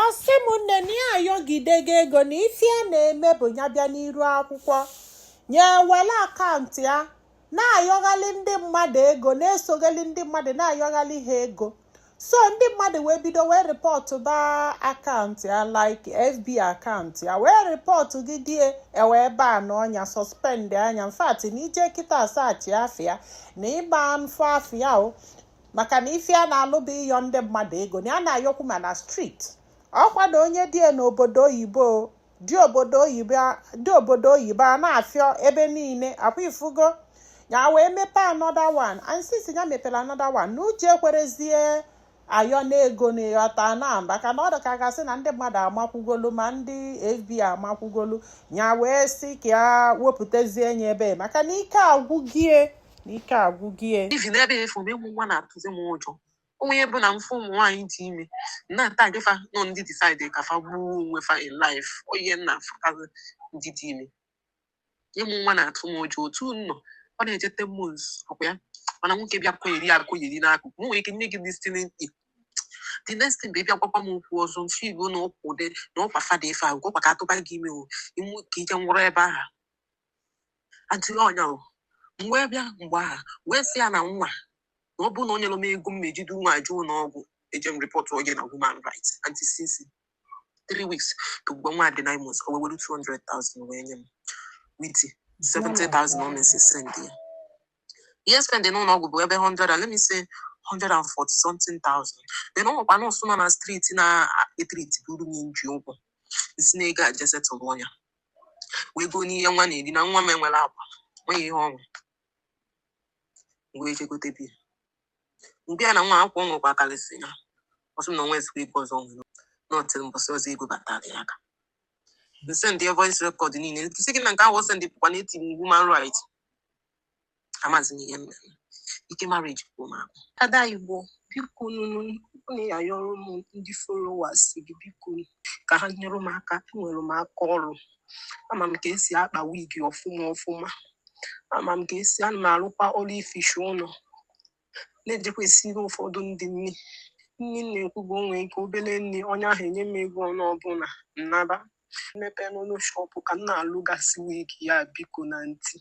asị m nne na ya ayọgidego ego na ife ya na-eme bụ ya bịa n'iru akwụkwọ nya ewere akaụntụ ya na-ayọghalị ndị mmadụ ego na-esoghali ndị mmadụ na-ayọghalị ha ego so ndị mmadụ wee bido wee rịpọtụba akaụntụ ya like fb akaụntụ ya wee rịpọtụgide e wee banụọ nya sọspendịa nya infact na i je kịta sachịa afa ya na ị ma afụ afa ya o maka na ife ọ na-alụ bụ ịyọ ndị mmadụ ego na ya na-ayọkwu ma na striti ọkwa na onye dị n'obodo oyibo dị obodo oyibo a na-ayọ ebe niile ọkwa ị fụgo ya wee mepee another one and since ya mepere another one na ụjọ ekwerozi ya ayọ n'ego na ịghọta na maka na ọ dị ka a ga-asị na ndị mmadụ amakwugolu ma ndị fb amakwugolu ya wee sị ka ya wepụtazie nye ebe maka na ike agwụgo ya na ike agwụgo ya. even before ịmụ nwa na-atụzi m ụjọ onwe ihe bụ na m fụ ụmụ nwaanyị dị ime na-atagị fa na ọ ndị disaidi ka fa gbuo onwe fa in life onye m na-afụtazi ndị dị ime ịmụ nwa na-atụ m ụjọ otu m nọ ọ na-eje ten months ọkwa ya mana nwoke bịa kwụyere akwụyere n'akụkụ m nwere ike nye gị destiny the next thing bụ ị bịa gwakwa m okwu ọzọ mfe igbo na ụkwụ dị na ụkwa fada ife agwụ ọkwa ka a tụba gị ime o imu ka i je nwụrụ ebe ahụ anti ọ nya o m wee bịa mgbe ahụ wee sị ya na nwa na ọ bụrụ na o nyerọ m ego m ma-eji du nwa a je ụlọ ọgwụ eje m rịpọtụọ gị na human rights anti since three weeks to mgbe nwa dị nine months o wee were 200,000 wee nye m with 70,000 o mesịrị sendịa ihe m spend n'ụlọ ọgwụ bụ ebe 100 and let me say 140 something thousand then ọ nwekwa nọọsụ nọ na streeti na-etritiburu m m ji ụgwọ m si na ego a je setụlọ nya wee goo n'ihe nwa na-eri na nwa m enwerọ akwa nweghị ihe ọnwụ wee chegote bi mgbe ya na nwa akwa ọ nwekwa akarịsị ya ọ sị m na o nwezikwa ego ọzọ nwere until mbọsị ọzọ ego batara ya aka m sendị voice rekọd niile sị gị na nke ahụ ọ sendị bụkwa na etinye m human right amazi m ihe m ma-eme ike marriage gwụ m agwụ ada igbo biko nụnụ na-ayọrọ m ndị followers gị biko ka ha nyere m aka enwere m aka ọrụ ama m ka esi akpa wig ọfụma ọfụma ama m ka esi ana m arụkwa ọrụ ificha ụlọ na-ejekwa esiri ụfọdụ ndị nri nri m na-ekwu bụ o nwee ike obere nri onye ahụ enye m ego ọnụ ọ bụ na m naba m mepee ọnụ shọpụ ka m na-alụgasị wig ya biko nụ anti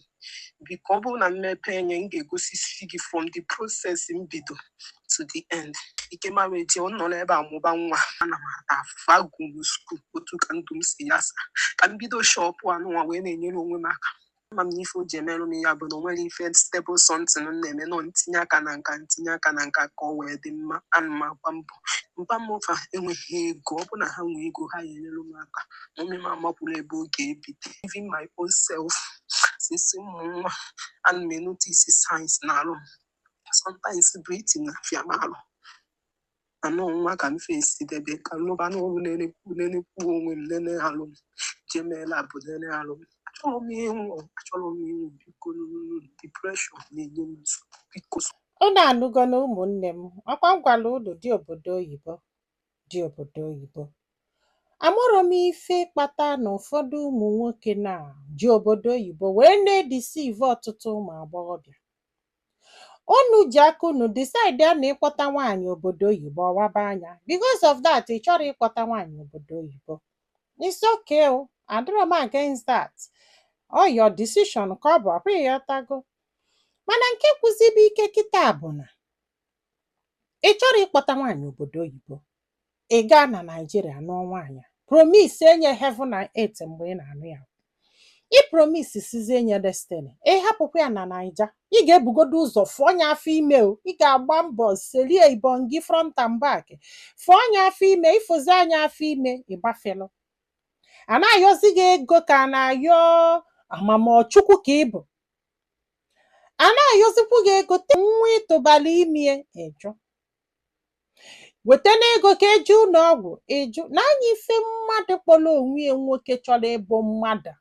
biko ọ bụrụ na m mepee nya m ga-egosisi gị from the process m bido to the end ike marriage ọ nọ n'ebe a mụba nwa ana m ata afụfụ agụrọ m skuul otu ka ndụ m si yasa ka m bido shọpụ anụnwa wee na-enyere onwe m aka ama m na ife o ji emerụ m ya bụ na o nwere ife stable something m na-eme nọ ntinye aka na nka ntinye aka na nka ka ọ wee dị mma ana m agba mbọ mba m ụfa enweghị ego ọ bụ na ha nwee ego ha ya enyere m aka ma ome m amakwuru ebe ọ ga-ebido even my own self since m mụ nwa ana m enotisi signs n'arụ m sometimes breathing na-afịa m arụ anọ nwa ka m fesi debe ka m lụba n'ọrụ nenekwu onwe m nene alụ m jee mee lab nene alụ m achọrọ m ịnwụ achọrọ m ịnwụ biko depression na-enye m nsogbu biko Unu anụgo na ụmụnne m, ọkwa m gwara unu di obodo oyibo, di obodo oyibo. Amarọ m ife kpata na ụfọdụ ụmụ nwoke na-eji obodo oyibo wee na-edeceive ọtụtụ ụmụ agbọghọbịa. unu ji aka unu decide ya na ịkpọta nwaanyị obodo oyibo ọ waba anya because of that ị chọrọ ịkpọta nwaanyị obodo oyibo it's okay o adịrọ m against that ọ your decision ka ọ bụ ọkwa ị ghọtago mana nke gwụzibe ike kịta bụ na ị chọrọ ịkpọta nwaanyị obodo oyibo ị gaa na naijiria nụọ nwaanyị a promise nya heaven na earth mgbe ị na-anụ ya ị promise sizie nya destiny ị hapụkwa ya na naija ị ga-ebugodo ụzọ fụọ nya afọ ime o ị ga-agba mbọ selie ibon gị front and back fụọ nya afọ ime ị fụzie nya afọ ime ị gbafelu a na-ayọzi gị ego ka a na-ayọ a ma ma ọ chukwu ka ị bụ a na-ayọzikwu gị ego te nwa ị tụbalụ ime ị jụ wetanụ ego ka e je ụlọ ọgwụ ị jụ nee anya ife mmadụ kpọrọ onwe ya nwoke chọrọ ịbụ mmadụ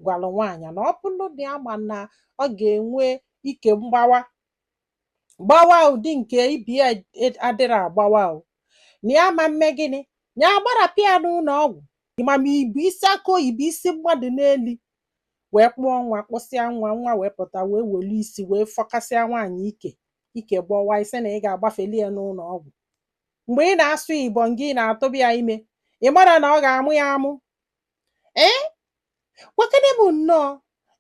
gwara nwaanyị na ọ bụrụ na ya ma na ọ ga-enwe ike mgbawa gbawa ụdị nke ibe ya e- adịrọ agbawa o na ya ma mme gịnị ya agbarapụ ya n'ụlọ ọgwụ ị ma ma i bu isi akụ oyibo isi mmadụ n'elu wee kpụọ nwa kpụsịa nwa nwa wee pụta wee welu isi wee fọkasịa nwaanyị ike ike gbawa ị sị na ị ga-agbafeli ya n'ụlọ ọgwụ mgbe ị na-asụ ibon gị ị na-atụba ya ime ị marọ na ọ ga-amụ ya amụ ee gwakene m nnọọ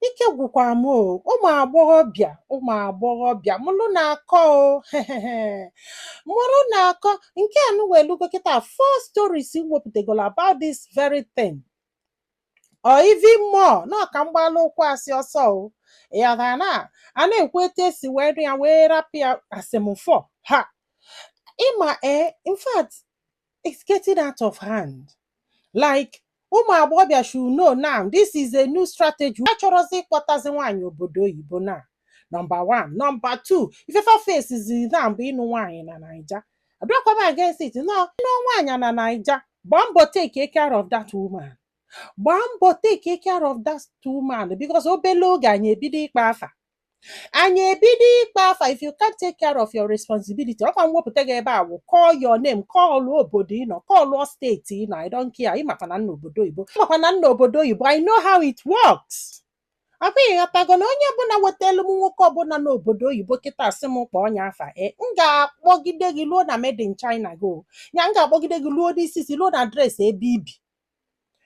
ike gwụkwara m o ụmụ agbọghọbịa ụmụ agbọghọbịa mụrụnụ akọ o mụrụnụ akọ nke a nụwa elugo kịta four stories m wepụtagoro about this very thing or even more na ọka mgbalụ ụkwụ asị ọsọ o ị ghọtara na a na-ekwu etu e si wee nụ ya wee rapụ ya asị m fọ ha ịma ee in fact it's getting out of hand like ụmụ agbọghọbịa should know now this is a new strategy a chọrọzi ịkpọtazi nwaanyị obodo oyibo na nọmba 1 nọmba 2 ife fa facezi now bụ ịnụ nwaanyị na naija adịkwa m against it no ị nụ nwaanyị na naija gbaa mbọ take care of that woman gbaa mbọ take care of that woman because obele oge anyị ebido ịkpọ afa anyị ebido ịkpọ afa if you can't take care of your responsibility ọ kwa m wepụta gị ebe a wụ call your name call obodo ị nọ call steeti ị nọ I don't care ị makwa na m nọ obodo oyibo ị makwa na m nọ obodo oyibo I know how it works ọ kwa ị ghọtago na onye ọbụla wetelu m nwoke ọbụla n'obodo oyibo kịta sị m kpọọ onye afa e m ga-akpọgide gị luo na made in China go ya m ga-akpọgide gị luo n'isi si luo na adreesị ebe i bi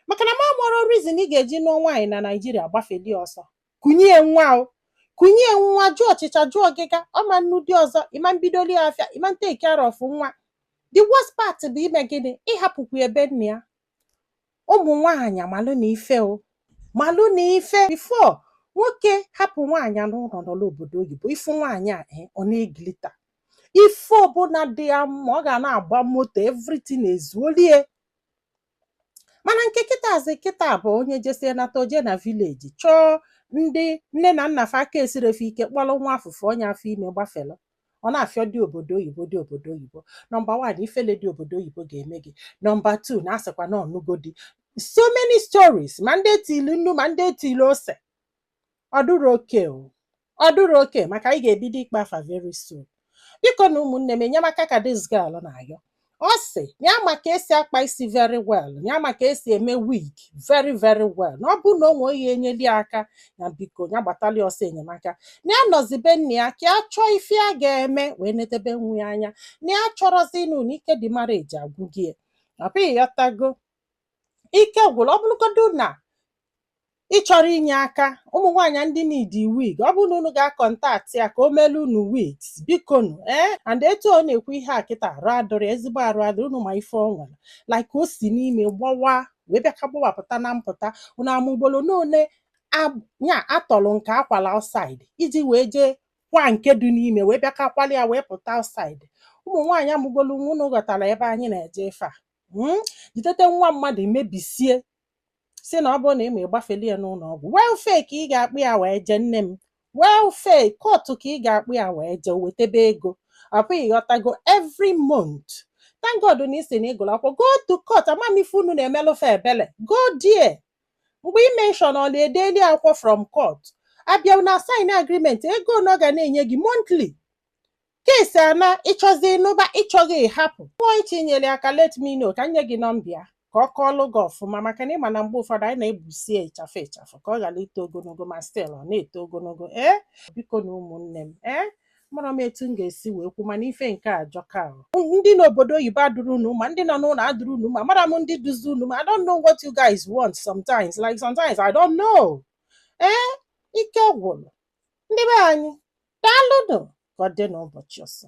maka na m amarọ reason ị ga-eji nụọ nwaanyị na naijiria gbafeli ọsọ kunye nwa o kunye nwa jụọ ọchịcha jụọ ọgịga ọ ma nnụ di ọzọ ị ma mbidoli ya afịa ị ma take care of nwa the worst part bụ ime gịnị ị hapụkwa ebe nna ya ụmụ nwaanyị malụnụ ife o malụnụ ife before nwoke hapụ nwaanyị n'ụlọ nọ obodo oyibo ị fụ nwaanyị a eh, ọ na-elita ife ọbụla dị ya mma ọ ga na-agba moto everything ezuoli e mana nke kịtazi kịta bụ onye jesie nata o je na village chọọ ndị nne na nna fa aka esirọ fa ike kpọrọ nwa afụ fụnye afọ ime gbafere ọ na-afịọ di obodo oyibo di obodo oyibo nọmba wan ifele di obodo oyibo ga-eme gị nọmba tu na-asịkwa na ọ nụgo di so many stories ma ndị e tili nnu ma ndị e tili ose ọ dụrọ okay o ọ dụrọ okay maka anyị ga-ebido ịkpọ afa very soon bikonu ụmụnne m enyemaka ka this girl na-ayọ ọ sị ya ma ka e si akpa isi very well ya ma ka e si eme wig very very well na ọ bụrụ na o nwee onye enyeli ya aka na biko ya gbatali ọsọ enyemaka na ya nọzi be nne ya ka ya chọọ ife ya ga-eme wee nedebe nwa ya anya na ya achọrọzi ịnụ na ike the marriage agwụgo ya. ọ kwa ị ghọtago ike gwụrụ ọ bụrụgodu na ị chọrọ inye aka ụmụ nwaanyị ndị need wig ọ bụrụ na unu ga-akọntaktị ya ka o melu unu wigs bikonu ee and etu ọ na-ekwu ihe a kịta arụ adịrọ ya, ezigbo arụ adịrọ unu ma ife ọ nwere like o si n'ime gbawa wee bịa ka gbawapụta na mpụta unu ama ugboro n'ole ab- ya a tọrọ nke a kwalụ outside iji wee jee kwaa nke dị n'ime wee bịa ka kwala ya wee pụta outside ụmụ nwaanyị amụgolu nwa unu ghọtara ebe anyị na-eje ife a Mm, jidete nwa mmadụ mebisie si na ọ bụrụ na ị ma ịgbafeli ya n'ụlọ ọgwụ welfare ka ị ga-akpụ ya wee jee nne m welfare court ka ị ga-akpụ ya wee jee o wetebe ego ọ kwa ị ghọtago every month thank God na ị sị na ị gụrụ akwụkwọ go to court ama m ife unu na-emelụ fa ebele go there mgbe ị mention ọ na-edeli akwụkwọ from court a bịa na-asign agreement ego one ọ ga na-enye gị monthly Case na ị chọzi ịnụba ị chọghị ịhapụ nwa ị chọ inyere aka let me know ka m nye gị nọmba ya ka ọ kọọlụ gị ọfụma maka na ị ma na mgbe ụfọdụ anyị na-egbusi ya ịchafụ ịchafụ ka ọ ghara ito ogologo ma still ọ na-eto ogologo ee bikonu ụmụnne m ee amarọ m etu m ga-esi wee kwu mana ife nke a ajọka ahụ ndị n'obodo oyibo adịrọ unu mma ndị nọ n'ụlọ adịrọ unu mma amarọ m ndị dịzi unu mma I don't know what you guys want sometimes like sometimes I don't know ee ike gwụrụ ndị be anyị daalụnụ ka ọ dị n'ụbọchị ọzọ